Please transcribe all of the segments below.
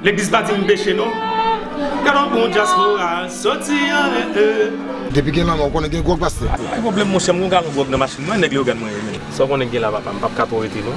Legliz pa di m peche non. Gad on bon dyaspora soti an eh eh. Depi gen lanmè ou konnen gen gwòg pastè. Ou bay pwoblèm monchè m gon galon gwòg nan machin mwen nèg Leogàn mwen ye menm. Sa w konnen k gen la papa m pap ka twò rete non.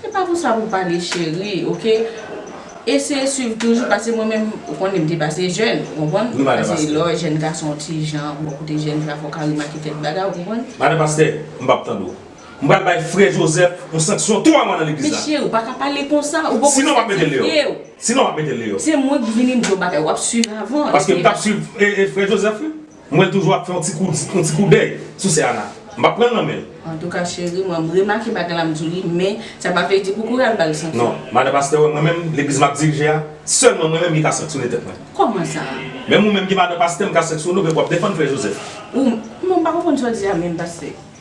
Se pa konsa pou pale cheri ok eseye swiv toujou pase mwen menm ou konnen m te pase jèn ou konprann pase lè w wè jèn gason yon ti jan bon kote jèn fi a fò w ka remake kèk bagay ou konprann. Madan pastè m pap tande w m pral bay frè Joseph yon sanksyon 3 mwa nan legliz la. Men cheri ou paka pale konsa ou poko sanktifye w. Sinon map metel deyò. Se mwen ki vini m di w bagay wap swiv avan. Paske m tap swiv frè Joseph wi. M wèl toujou ap fè yon ti kout yon ti koudèy sou sè Ana. M pap pranl nan menl. Antouka cheri mwen m remake bagay la m diw li men sa pa vle di pou kouri al bal sanksyon. Non madan pastè wè mwen menm legliz map dirije a sèlman mwen menm li ka sanksyone tèt mwen. Kòman sa? Menm ou menm ki madan pastè m ka sanksyone w vre pou wap defann frè Joseph. Ou menm m pa konprann sa w di a menm pastè.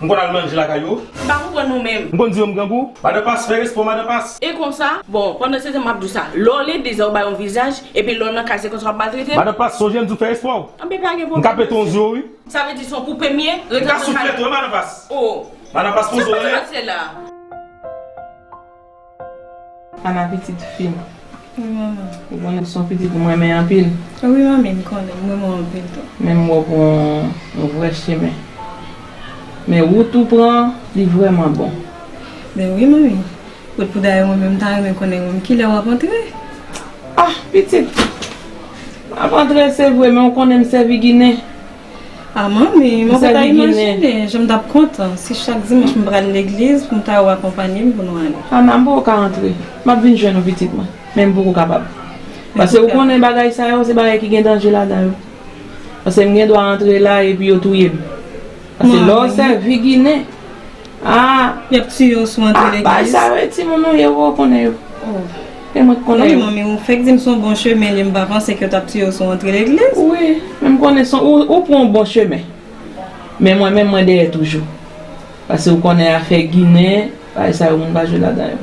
M konn al manje lakay yo. M pa konprann nou menm. M konn di yo m grangou. Madan Pas, fè respè w Madan Pas. E konsa, bon, pandan se tan m ap di w sa, lè w lede zè w bay yon vizaj, epi lè w nan kay se konsa w ap maltrete m? Madan Pas, sonje m di w fè respè w. Anben pa gen pwoblèm. M ka pete w nan zye w wi. Sa vle di se yon poupe m ye? M ka souflèt ou wi Madan Pas. O! Madan Pas poze w anlè. Sa w pral fè la? Ana pitit fim. Wi manman. Ou konnen son pitit ou renmen anpil. Wi manmi m konnen m renmen w anpil tou. Men m wè w pran yon vrè chemen. Men wout ou pran an li vrèman bon. Men wi manmi. Kot pou dayè mwen menm m ta renmen konnen menm kilè w ap antre. Ah pitit. M ap antre se vre men ou konnen m sèvi ginen. A manmi, mwen pa ta imajine jan m t ap kontan si chak dimanch m pral legliz pou m ta wè w akonpanye m pou nou ale. Ana, m poko ka antre. M ap vin jwenn ou pitit mwen, men m poko kapab. Pase ou konnen bagay sa yo se bagay ki gen danje ladan yo. Pase m gen dwa antre la epi yo touye m. Pase lè w sèvi Ginen. Aah yap tiyew sou antre legliz. Paj sa yo e timoun nou ye wou konnen yo. Oh. E mwen t konnen yo. Wi manmi ou fek dim son bon chemen li m pa panse ke yo tap tiyew sou antre legliz. Wi men m konnen son ou pran yon bon chemen. Men mwen menm mwen dèyè toujou. Pase ou konnen afè ginen bagay sa yo moun pa jwe ladan yo.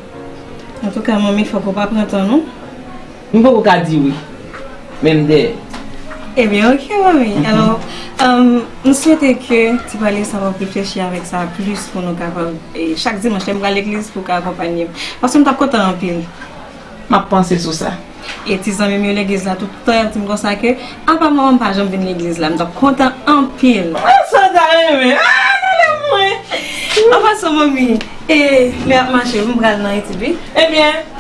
Antouka manmi fok ou pa pran tan nou. M poko ka di wi, men m dèyè. Ebyen ok manmi, alò m swete ke ti pale sa wap reflechi avèk sa plis pou nou kapab chak dimanch lèm pral legliz pou ka akonpanye m, paske m tap kontan anpil. Map panse sou sa. E ti zanmi m yo legliz la tout tan yap di m konsa ke apa manman m pa janm vin legliz la m tap kontan anpil. An sa ta renmen, ah nan lèm mwen. An pasan manmi, e lè ap mache m pral nan etid wi. Ebyen.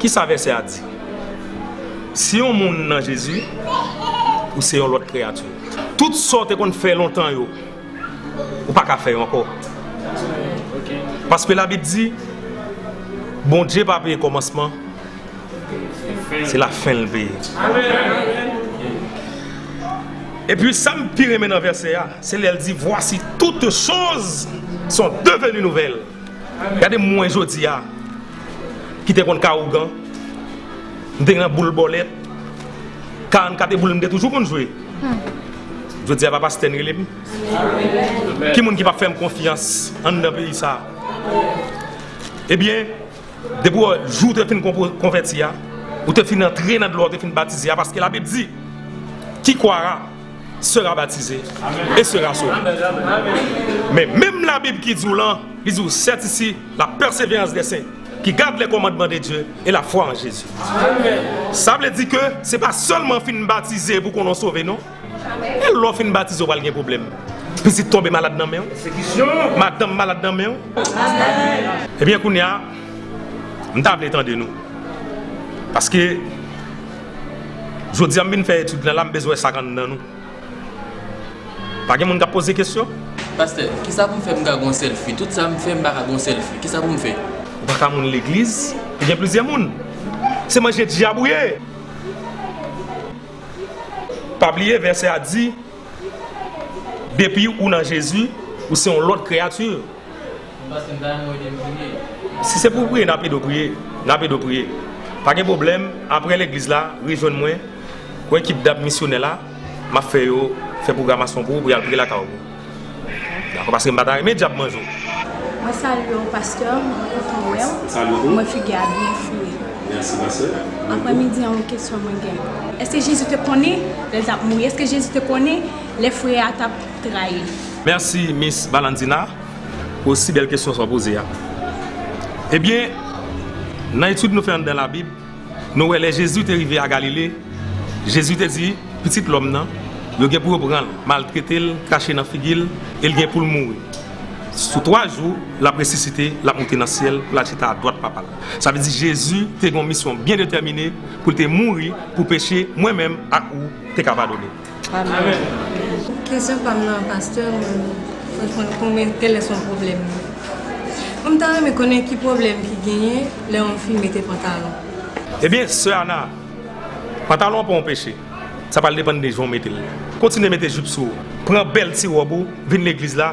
Ki sa vèsè a di? Si yon moun nan Jezi, ou se yon lòt kreyati. Tout sa w te konn fè lontan yo, ou pa ka fè yo ankò. Paske Labib di, Bondye pa veye kòmansman, se lafen l veye. Epi sa m pi renmen nan vèsè a, se lè l di, Vwasi toutchoz son deveni nouvèl. Gade mwen jodi a ki te konn ka ougan, m te gen nan boul bòlèt, 44 e boul m te toujou konn jwe. Jodi a Papa Stèn rele m. Ki moun ki pa p fè m konfyans anndan peyi sa a? Ebyen, depi w jou w te fin konvèti a, ou te fin antre nan dlo a, ou te fin batize a, paske Labib di, Kikwara. sera baptisé et sera sauvé men menm la bib ki diw lan li diw sèt isi la pèseverans dè sen ki gad lè kòmandman de Dye e la fwa an Jezi sa vle di ke se pa sèlman fin batize pou konnen w sove non e lè w fin batize w pral gen pwoblèm pitit tonbe malad nan menw madanm malad nan menw ebyen kounya m ta vle tande nou paske Jodi a m vin fè etid la la m bezwen sak anndan nou. Pa gen moun kap poze kesyon? Pastè, kisa pou m fè pou m ka gon sèl fi? Tout sa m fè m pa ka gon sèl fi. Kisa pou m fè? Ou pa ka moun legliz ki gen plizyè moun. Se manje dyab ou ye. Pa bliye vèsè a di depi ou nan Jezi ou se yon lòt kreyati. Si se pou priye nap edo priye nap edo priye pa gen problem aprè legliz la rejwenn mwen pou ekip dam misyonè la map fè yo fè programasyon pou ou pou yal priye lakay ou dakò paske mpa ta renmen dyab manje ou. Mwen salye w pastè mwen kontan wè w mwen figi a byen foure aprè midi an yon kesyon mwen gen èske Jezi te konnen lè l tap mouri èske Jezi te konnen lè frè a tap trayif. Merci Miss Valentina pou si bèl kesyon sa w poze a. Ebyen, nan etid nou fè anndan Labib, nou wè lè Jezi te rive a Galile, Jezi te di, Pitit lòm nan, yo gen pou yo pran l, maltrete l, krache nan figi l, e l gen pou l mouri. Sou twa jou, l ap resisite, l ap moute nan syèl pou l al chita adwat Papa l. Sa vle di Jezi te gen yon misyon byen detèmine pou l te mouri pou peche mwen menm ak ou te ka padone. Kesyon pam nan pastè mwen vle konn konbyen kèlè son pwoblèm nan mwen ta renmen konnen ki pwoblèm ki genyen lè yon fi mete pantalon. Ebyen sè Ana, pantalon an pa yon peche, sa pral depann de jan w mete l. Kontinye mete jupe sou ou, pran bèl ti ròb ou vin legliz la,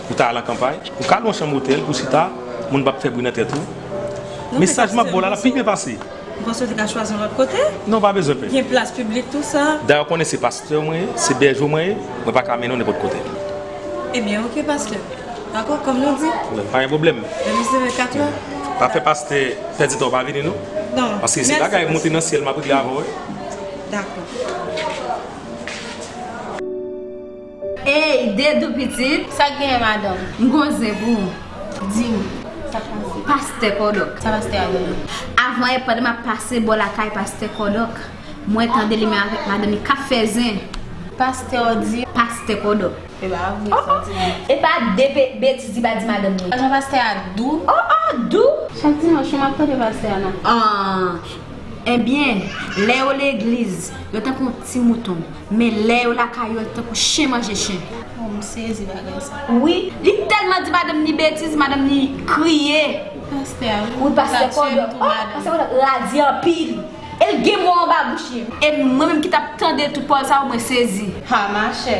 Ou ta al an kanpay, ou ka lwe yon chanm otèl pou w chita, moun pap fè bri nan tèt ou. Mesaj map ba w la, lap pi byen pase. M panse w te ka chwazi yon lòt kote. Non ou pa bezwen pè. Gen plas piblik tou sa. Dayè w konnen se pastè mwen ye, se bèje w mwen ye, mwen pa ka mennen w nenpòt kote. Ebyen ok pastè. Dakò, kòm nou di. Pa gen pwoblèm. Demen se 24 lè. Pa fè pastè pèdi tan w pa vini non. Non. Paske se bagay monte nan syèl map regle avè w wi. Dakò. Ey Dedou pitit! Sak genyen madanm? M gon zen pou ou. Di m, sa pastè Kòdòk? Sa pastè a genyen? Avan yè pandan m ap pase bò lakay pastè Kòdòk, mwen tande li menm avèk madanm li k ap fè zen. Pastè ou di? Pastè Kòdòk. E pa vre sa w di la. E pa de betiz li pa di madanm li. Lajan pastè a dou. Oh oh! Dou? Chak dimanch wi m ap tande pastè a nan. An! Enbyen, lè yo legliz, yo tankou Ti mouton. Men lè yo lakay yo tankou chen manje chen. Oh m sezi bagay sa wi. Li telman di madanm ni betiz madanm ni kriye. Pastè a wi ou ta tchèm tou madanm. Pastè kòdò radi anpil. El gen mo anba bouch li. E mwen menm ki tap tande tout pawòl sa yo mwen sezi. Ha machè.